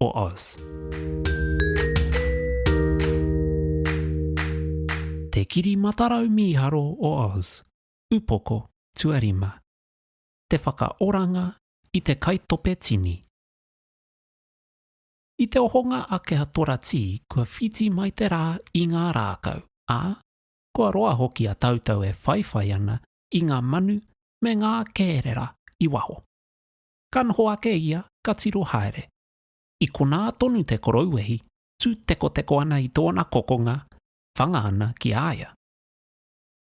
o Oz. Te Kiri Matarau Mīharo o Oz, Upoko Tuarima. Te whakaoranga i te kaitope tini. I te ohonga a Keha Toratī kua whiti mai te rā i ngā rākau, ā, kua roa hoki a tāutou e whaiwhai ana i ngā manu me ngā kērera i waho. ka noho ake ia ka tiro haere. I konā tonu te korouwehi tū tekoteko ana i tōna kokonga, whanga ana ki a ia.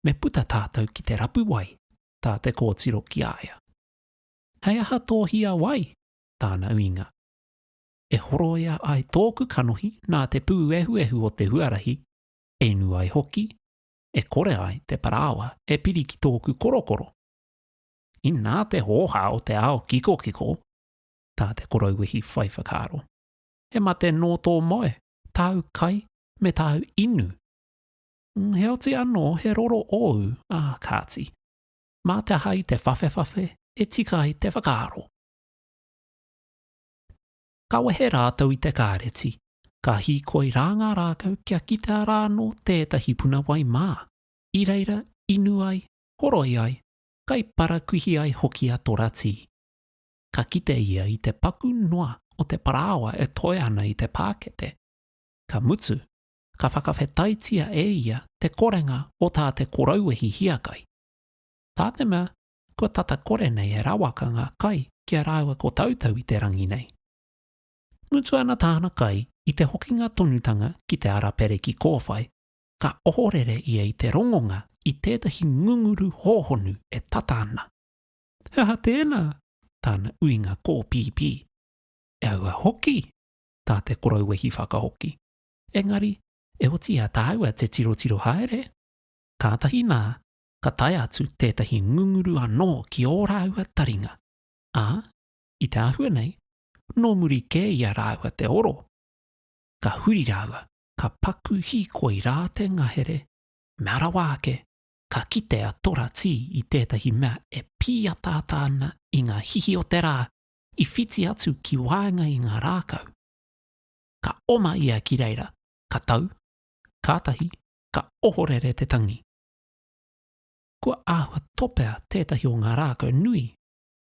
Me puta tātou ki te rapu wai, tā te kōtiro ki a ia. Hei aha tō hia wai? tāna uinga. E horoia ai tōku kanohi nā te pūehuehu o te huarahi, e nu ai hoki, e kore ai te parāoa e piri ki tōku korokoro. Inā te hōhā o te ao kikokiko, tā te korouwehi whai whakaaro, he mate nō tō moe, tāu kai, me tāu inu. Heoti anō he roro ōu, ā, kāti, mā te aha i te whawhewhawhe e tika ai te whakaaro. Ka wehe rātou i te kāreti, ka hīkoi rā ngā rākau kia kitea rānō tētahi puna wai mā, i reira inu ai, horoi ai, kai parakuihi ai hoki a Toratī. Ka kite ia i te paku noa o te parāoa e toe ana i te pākete. Ka mutu, ka whakawhetaitia e ia te korenga o tā te korouehi hiakai. Tā te mea, kua tata kore nei e rawaka ngā kai ki a rāua ko Tautau i te rangi nei. Mutu ana tāna kai i te hokinga tonutanga ki te ara pereki kōwhai, ka ohorere ia i te rongonga i tētahi ngunguru hōhonu e tata ana. He aha tēnā? tāna uinga kōpīpī. E aua hoki! tā te korouwehi whakahoki. Engari, e oti i a tāua te tirotiro haere. Kātahi nā, ka tae atu tētahi ngunguru anō ki ō rāua taringa, ā, i te āhua nei, nō muri kē i a rāua te oro. Ka huri rāua ka paku hīkoi rā te ngahere, mea rawa ake, ka kite a Tora Tī i tētahi mea e pīataata ana i ngā hihi o te rā i whiti atu ki waenga i ngā rākau. Ka oma ia ki reira, ka tau, kātahi ka ohorere te tangi. Kua āhua topea tētahi o ngā rākau nui,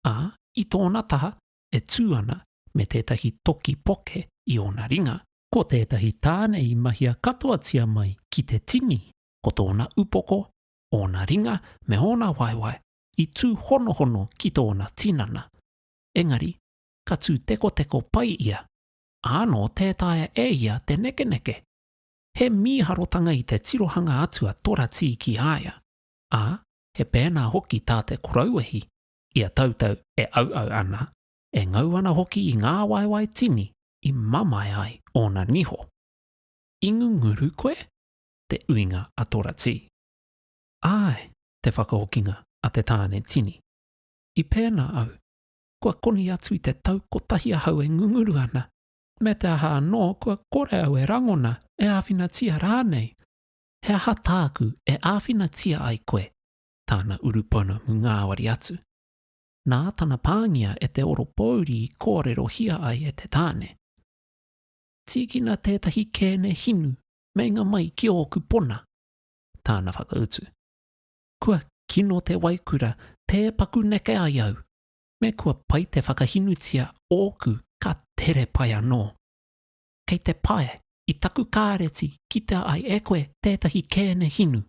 ā, i tōna taha e tū ana me tētahi toki poke i ōna ringa, ko tētahi tāne i mahia katoatia mai ki te tini, ko tōna upoko, ōna ringa me ōna waewae i tūhonohono ki tōna tinana. Engari, ka tū tekoteko pai ia, ā, nō tē taea e ia te nekeneke. He mīharotanga i te tirohanga atu a Toratī ki a ia, ā, he pēnā hoki tā te korauwehi i a tautau e auau ana, e ngau ana hoki i ngā waewae tini i mamae ai ōna niho. I ngunguru koe? te uinga a Toratī. Āe, te whakahokinga a te tāne tini. I pēnā au, kua koni atu i te tau kotahi ahau e ngunguru ana, me te aha anō kua kore au e rangona, e āwhinatia rānei. He aha tāku e āwhinatia ai koe? tāna urupuna mu ngāwari atu. Nā tana pāngia e te oropōuri i kōrerohia ai e te tāne, Tīkina tētahi kēne hinu meinga mai ki ōku pona, tāna whakautu. Kua kino te waikura tē paku neke ai au, me kua pai te whakahinutia ōku ka tere pai anō. Kei te pae i taku kāreti kitea ai e koe tētahi kēne hinu.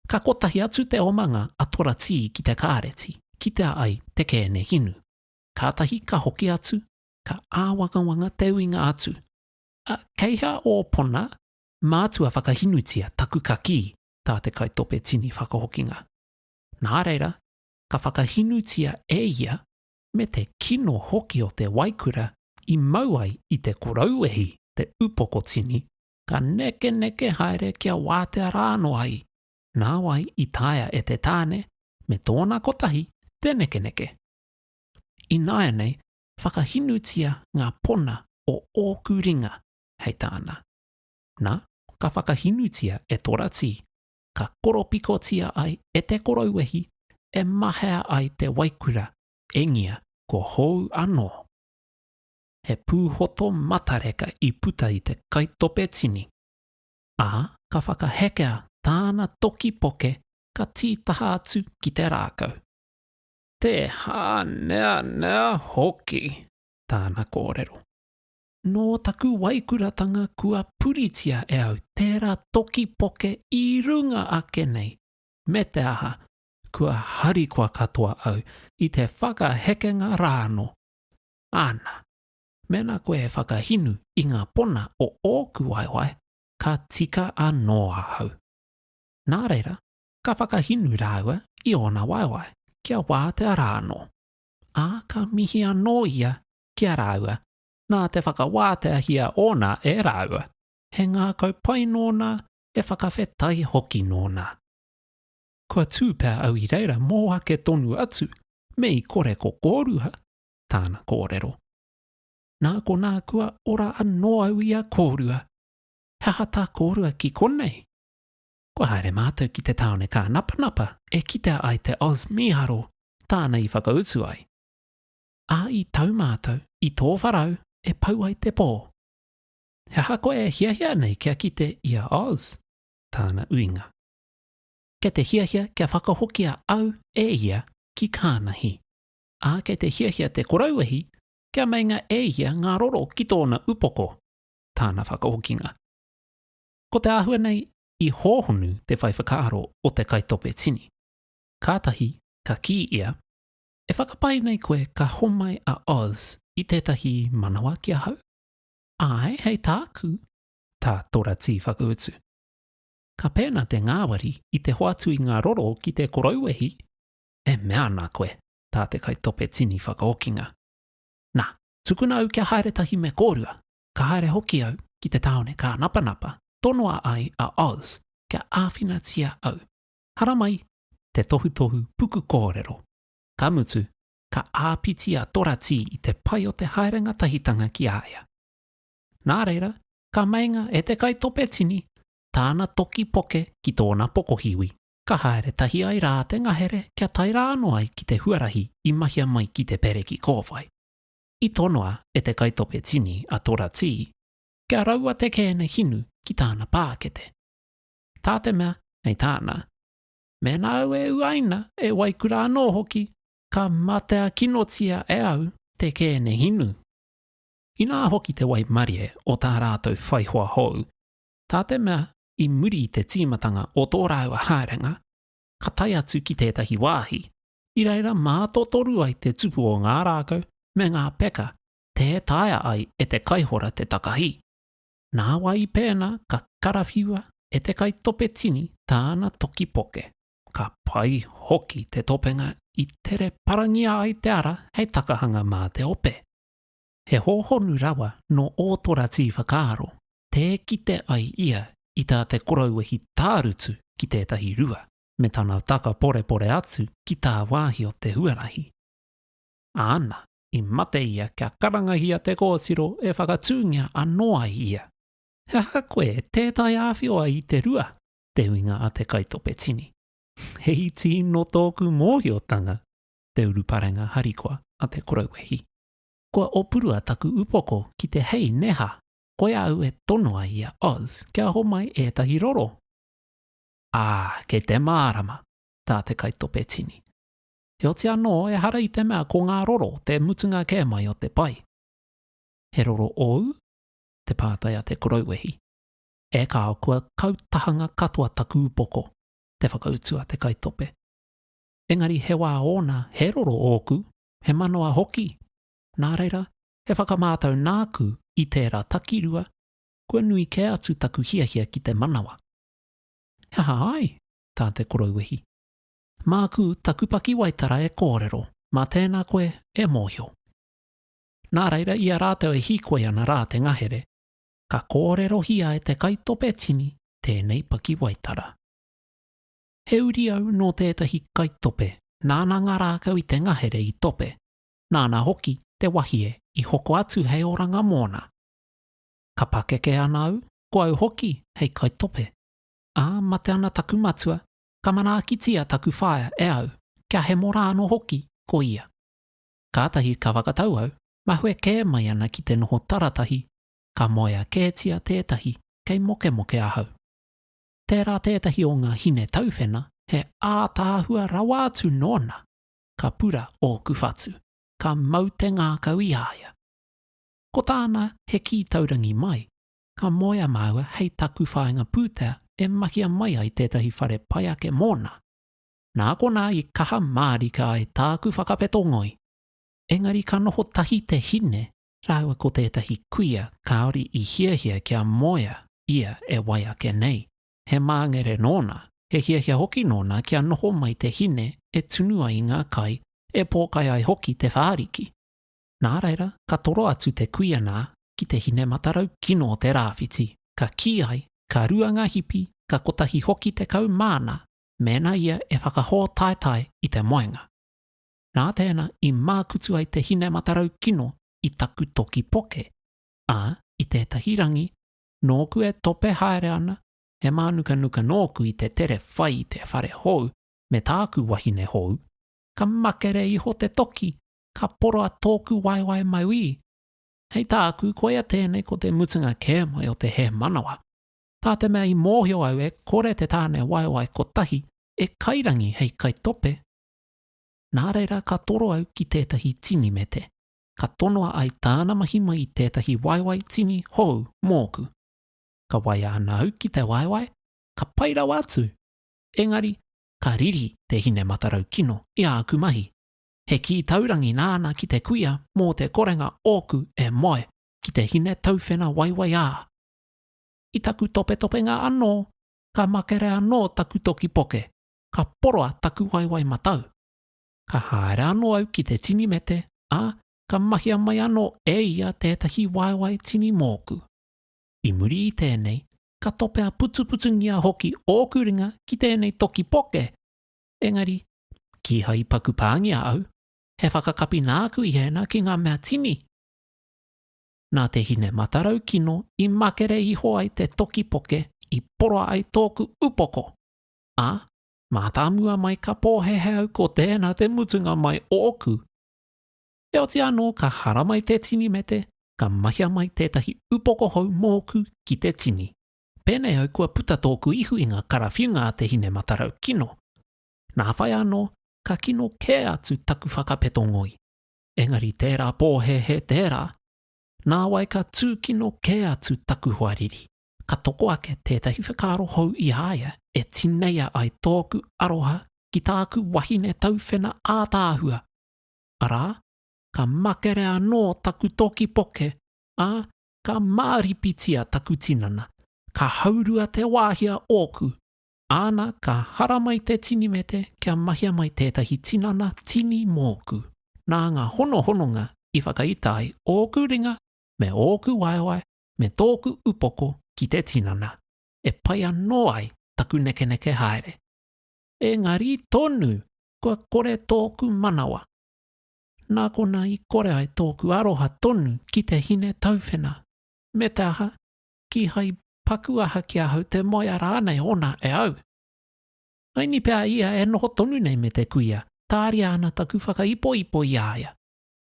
Ka kotahi atu te omanga a Toratī ki te kāreti, kitea ai te kēne hinu. Kātahi ka hoki atu, ka āwangawanga te uinga atu, Ā, kei hea ō pona? Mātua whakahinutia taku kakī, tā te kaitope tini whakahokinga. Nā reira, ka whakahinutia e ia, me te kino hoki o te waikura i mau ai i te korou wehi te upoko tini, ka nekeneke haere kia wātea rā anō ai, nāwai i taea e te tāne me tōna kotahi te nekeneke. Ināianei whakahinutia ngā pona o ōku ringa hei tāna. Nā, ka whakahinutia e Toratī, ka koropikotia ai e te korouwehi e mahea ai te waikura, engia kua hou anō. he pūhoto matareka i puta i te kaitope tini, ā, ka whakahekea tāna toki poke ka tītaha atu ki te rākau. Te hāneanea hoki! tāna kōrero. Nō taku waikuratanga kua puritia e au tērā toki poke i runga ake nei, me te aha, kua harikoa katoa au i te whakahekenga rā anō. Ana, mēnā koe e whakahinu i ngā pona o ōku waewae, ka tika anō ahau. Nā reira, ka whakahinu rāua i ōna waewae kia wātea rā anō, ā, ka mihi anō ia ki a rāua nā te whakawāteahia ōna e rāua, he ngākau pai nōna, he whakawhetai hoki nōna. Kua tū pea au i reira mō ake tonu atu, me i kore ko kōrua, tāna kōrero. Nā konā kua ora anō au i a kōrua. He aha tā kōrua ki konei? Kua haere mātou ki te tāone kānapanapa e kitea ai te Oz mīharo tāna i whakautu ai. Ā, i tau mātou i tō wharau e pau ai te pō. He aha koe e hiahia nei kia kite i a Oz? tāna uinga. Kei te hiahia kia whakahokia au e ia ki Kānahi. ā, kei te hiahia te korauwehi kia meinga e ia ngā roro ki tōna upoko, tāna whakahokinga. Ko te āhua nei i hōhonu te whai whakaaro o te kaitope tini. Kātahi ka kī ia, E whakapae nei koe ka homai a Oz i tētahi manawa ki ahau? Āe, hei tāku, tā Toratī whakautu. Ka pēnā te ngāwari i te hoatu i ngā roro ki te korauwehi, E mea ana koe, tā te kaitope tini whakaokinga, Nā, tukuna au kia haere tahi me kōrua, ka haere hoki au ki te tāone kānapanapa tonoa ai a Oz kia āwhinatia au. Haramai te tohutohu puku kōrero, ka mutu, ka āpiti a Toratī i te pai o te haere ngatahitanga ki a ia. Nā reira, ka meinga e te kaitope tini tāna toki poke ki tōna pokohiwi. ka haere tahi ai rā te ngahere kia tae rā anō ai ki te huarahi i mahia mai ki te pereki kōwhai. I tonoa e te kaitope tini a Tora Tī, kia raua te kēne hinu ki tāna pākete. Tā te mea, hei tāna, Mēnā au e uaina, e waikura anō hoki, ka matea kinotia e au te kēne hinu. Inā hoki te waimarie o tā rātou whaihoa hou, tā te mea i muri i te tīmatanga o tō rāua haerenga, ka tae atu ki tētahi wāhi, i reira mātotoru ai te tupu o ngā rākau me ngā peka tē taea ai e te kaihora te takahī. Nā wai pēnā ka karawhiua e te kaitope tini tāna toki poke. Ka pai hoki te topenga i tere parangia ai te ara hei takahanga mā te ope. He hōhonu rawa nō Ōtorati whakaaro tē kite ai ia i tā te korouwehi tārutu ki tētahi rua, me tana taka porepore atu ki tāwāhi o te huarahi. Āna, i mate ia kia karangahia te kōtiro e whakatūngia anō ai ia. He aha koe e tētahi āwhio ai i te rua? te uinga a te kaitope tini. He iti nō tōku mōhiotanga te uruparenga harikoa a te korouwehi. Kua opurua taku upoko ki te hei neha koi au e tonoa i a Oz kia homai etahi roro. A, kei te marama, ta te kaitope tini. Heoti ano ehara i te mea ko nga roro te mutunga ke mai o te pai. He roro ou? te patai a te korouwehi. E kao kua kau tahanga katoa taku upoko, te whakautu a te kaitope. Engari he wa ona he roro oku he manawa hoki, nā reira, he whakamātau nāku i tērā takirua, kua nui kē atu taku hiahia ki te manawa. He aha ai? tā te koroiwehi. Māku taku pakiwaitara e kōrero, mā tēnā koe e mōhio. Nā reira, i a rātou e hīkoi ana rā te ngahere, ka kōrerohia e te kaitope tini tēnei pakiwaitara. He uri au nō tētahi kaitope, nāna ngā rākau i te ngahere i tope, nāna hoki te wahie i hoko atu hei oranga mōna. Ka pakeke ana au, ko au hoki hei kaitope. Ā, mate ana taku matua, ka manaakitia taku whaea e au, kia hemo rānō hoki ko ia. Kātahi ka whakatau au, mahue kē mai ana ki te noho taratahi, ka moea kētia tētahi kei mokemoke ahau. tērā tētahi o ngā hine tauwhena he ātaahua rawa atu nōna, ka pura ōku whatu, ka mau te ngākau i a ia. Ko tāna he kī taurangi mai, ka moea māua hei taku whāinga pūtea e mahia mai ai tētahi whare pai ake mōna. Nā konā i kaha mārika ai tāku whakapeto ngoi. Engari ka noho tahi te hine rāua ko tētahi kuia kāore i hiahia kia moea ia e wai ake nei. He māngere nōna, he hiahia hoki nōna kia noho mai te hine e tunu ai ngā kai, e pōkai ai hoki te whāriki. Nā reira, ka toro atu te kuia nā ki te hine matarau kino o te rāwhiti, ka kī ai, ka rua ngā hipi, ka kotahi hoki tekau māna mēnā ia e whakahōtaetae i te moenga. Nā tēnā i mākutu ai te hine matarau kino i taku toki poke, ā, i tētahi rangi, nōku e tope haere ana, he mānukanuka nōku i te tere whai i te whare hou me tāku wahine hou, ka makere iho te toki, ka poroa tōku waewae mauī. Hei tāku, koia tēnei ko te mutunga kē mai o te hēmanawa. Tā te mea i mōhio au e kore te tāne waewae kotahi e kairangi hei kaitope, Nā reira ka toro au ki tētahi tini me te. Ka tonoa ai tāna mahi mai i tētahi waewae tini hou mōku. Ka waia ana au ki te waewae, ka pai rawa atu! Engari, ka riri te hine matarau kino i āku mahi. He kī taurangi nāna ki te kuia mō te korenga ōku e moe ki te hine tauwhena waewae ā. I taku topetopenga anō, ka makere anō taku toki poke. ka poroa taku waewae matau. Ka haere anō au ki te tini mete, ā, ka mahia mai anō e ia tētahi waewae tini mōku. I muri i tēnei, ka topea putuputungia hoki ōku ringa ki tēnei toki poke, engari, kīhai i paku pāngia au, he whakakapi nāku i hēnā ki ngā mea tini. Nā te hine matarau kino i makere iho ai te toki poke i poroa ai tōku upoko. ā, mātāmua mai ka pōhēhē au ko tēnā te mutunga mai o ōku. Heoti anō ka haramai te tini me te ka mahia mai tētahi upoko hou mōku ki te tini. Pēnei au kua puta tōku ihu i ngā karawhiunga a te hine matarau kino. Nā whai anō ka kino kē atu taku whakapeto ngoi. Engari tērā pōhēhē tērā, nāwai ka tūkino kē atu taku hoariri. ka toko ake tētahi whakaaro hou i a ia e tineia ai tōku aroha ki tāku wahine tauwhena ātaahua, arā, ka makere anō taku toki poke, ā, ka māripitia taku tinana, ka haurua te wāhi a ōku, āna ka haramai te tinimete kia mahia mai tētahi tinana tini mōku. Nā ngā honohononga i whakaita ai ōku ringa me ōku waewae me tōku upoko ki te tinana, e pai anō ai taku nekeneke haere. Engari tonu kua kore tōku manawa. Nā konā i kore ai tōku aroha tonu ki te hine tauwhena. Me te aha, kīhai paku aha ki ahau te moea rānei ōna e au. Haini pea ia e noho tonu nei me te kuia, tāria ana taku whakaipoipo i a ia.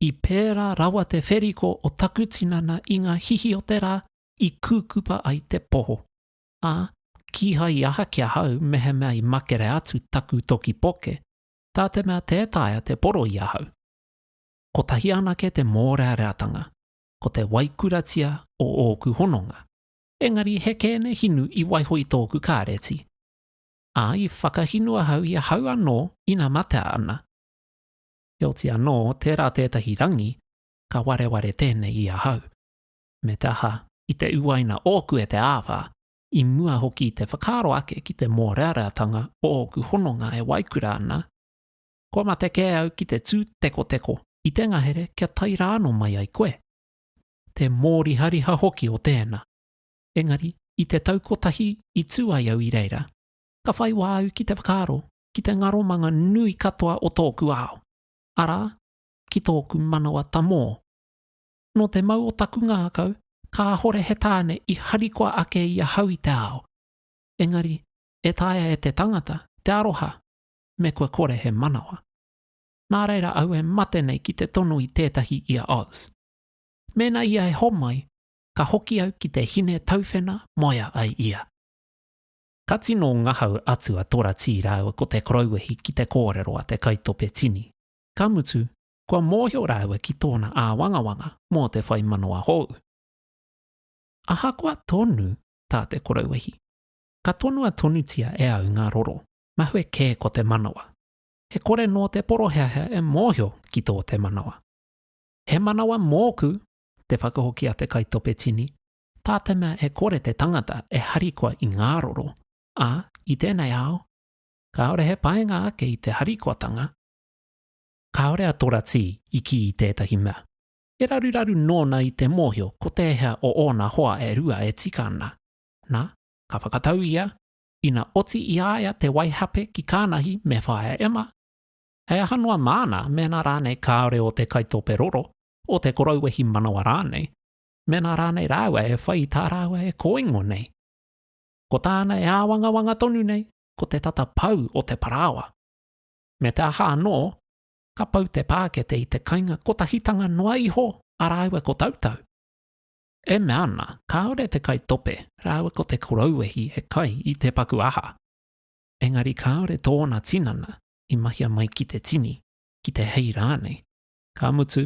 I pērā rawa te wheriko o taku tinana i ngā hihi o te rā i kūkupa ai te poho, ā, kīhai i aha ki ahau mehemea i makere atu taku toki poke, tā te mea tē taea te poro i ahau. Kotahi anake te mōreareatanga, ko te waikuratia o ōku hononga, engari he kēne hinu i waiho i tōku kāreti, ā, i whakahinu ahau i ahau anō ina matea ana. heoti anō tērā tētahi rangi ka wareware tēnei i ahau. Me te aha, i te uaina ōku e te āwhā, i mua hoki i te whakaaro ake ki te mōreareatanga o ōku hononga e waikura ana, kua mate kē au ki te tū tekoteko i te ngahere kia tae rānō mai ai koe. Te mōrihariha hoki o tēnā. Engari, i te tau kotahi i tū ai au i reira, ka whai wā au ki te whakaaro ki te ngaromanga nui katoa o tōku ao, arā, ki tōku manawa tamō. Nō te mau o taku ngākau, kāhore he tāne i harikoa ake i ahau i te ao, engari e taea e te tangata te aroha me kua kore he manawa. Nā reira au e mate nei ki te tono i tētahi i a Oz. Mēnā ia e homai, ka hoki au ki te hine tauwhena moea ai ia. Ka tino ngahau atu a Toratī rāua ko Te Korouwehi ki te kōrero a te kaitope tini. Ka mutu, kua mōhio rāua ki tōna āwangawanga mō te whai manawa hou. Ahakoa tonu tā Te Korouwehi, ka tonua tonutia e au ngā roro, mahue kē ko te manawa. He kore nō te poroheahea e mōhio ki tō te manawa. He manawa mōku, te whakahoki a te kaitope tini, tā te mea e kore te tangata e harikoa i ngā roro, ā, i tēnei ao, kāore he painga ake i te harikoatanga, kāore a Toratī i kī i tētahi mea, he raruraru nōna i te mōhio ko tēhea o ōna hoa e rua e tika ana, nā, ka whakatau ia, ina oti i a ia te waihape ki Kānahi me Whaea Emma, hei aha noa māna mēnā rānei kāore o te kaitope roro, o te korou wehi manawa rānei, mēnā rānei rāua e whai i tā rāua e kōingo nei. Ko tāna e āwangawanga tonu nei, ko te tata pau o te parāoa. Me te aha anō, ka pau te pākete i te kainga kotahitanga noa iho a rāua ko Tautau. E mea ana, kāore te kai tope rāua ko te korouehi e kai i te paku aha. Engari kāore tōna tinana i mahia mai ki te tini, ki te hei rānei. Ka mutu,